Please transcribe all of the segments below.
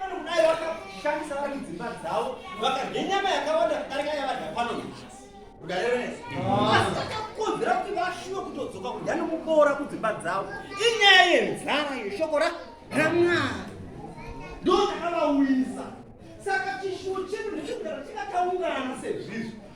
vanokudai vakashandisa vari mudzimba dzavo vakadya nyama yakawanda kudarika yavadya pano nhasi asi takakonzera kuti vashuwe kutodzoka kudya nomuboora kudzimba dzavo inyaya yenzara yeshoko ramwari ndo takavauyisa saka chishuwo chedu ndechekugara chikataungana sezvizvi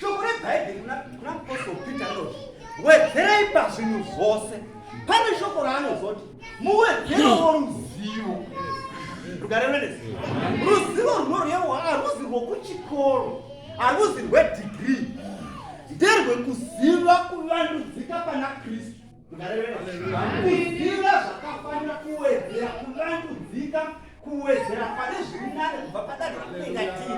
shoko rebhaibheri kuna apostle peter anoti wedzerai pazvinhu zvose pane shoko raanozoti muwedzerewo ruzivo rugarevenezi ruzivo runorewa haruzi rwokuchikoro haruzi rwedigrii nderwekuziva kuvandudzika pana kristu Kuziva zvakafanira kuwedzera kuvandudzika kuwedzera pane zviri nane kubva padare ratinengatiri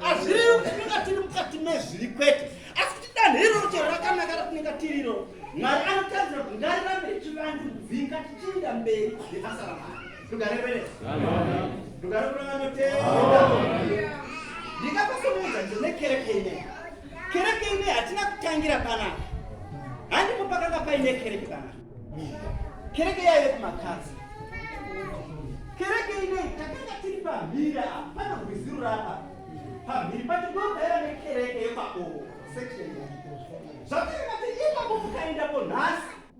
azviriyo kuti tinenga tiri mukati mezviri kwete asi kuti danho iroro chero rakanaka ratinenga tiri iro mwari anotarisira kuti ngarirambe richivandudzika tichiinda mberi nebasa ramwari tugarevereztugareveranotenda ndingapasomuudza ndinekerekene Kereke ine hatina kutangira panapa, handipo pakanga paine kereke panapa. Kereke yaive kumakadzi. Kereke ine takanga tiri pamhiri apa, pana gwiziro rapa pamhiri pacho ndogara nekereke yepabovo section. Zvakaita kuti ipapo mukaendapo nhasi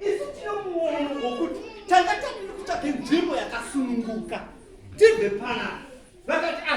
isu tino muono wokuti tanga tadiri kutsvake nzvimbo yakasununguka tibve panapa vakati ah,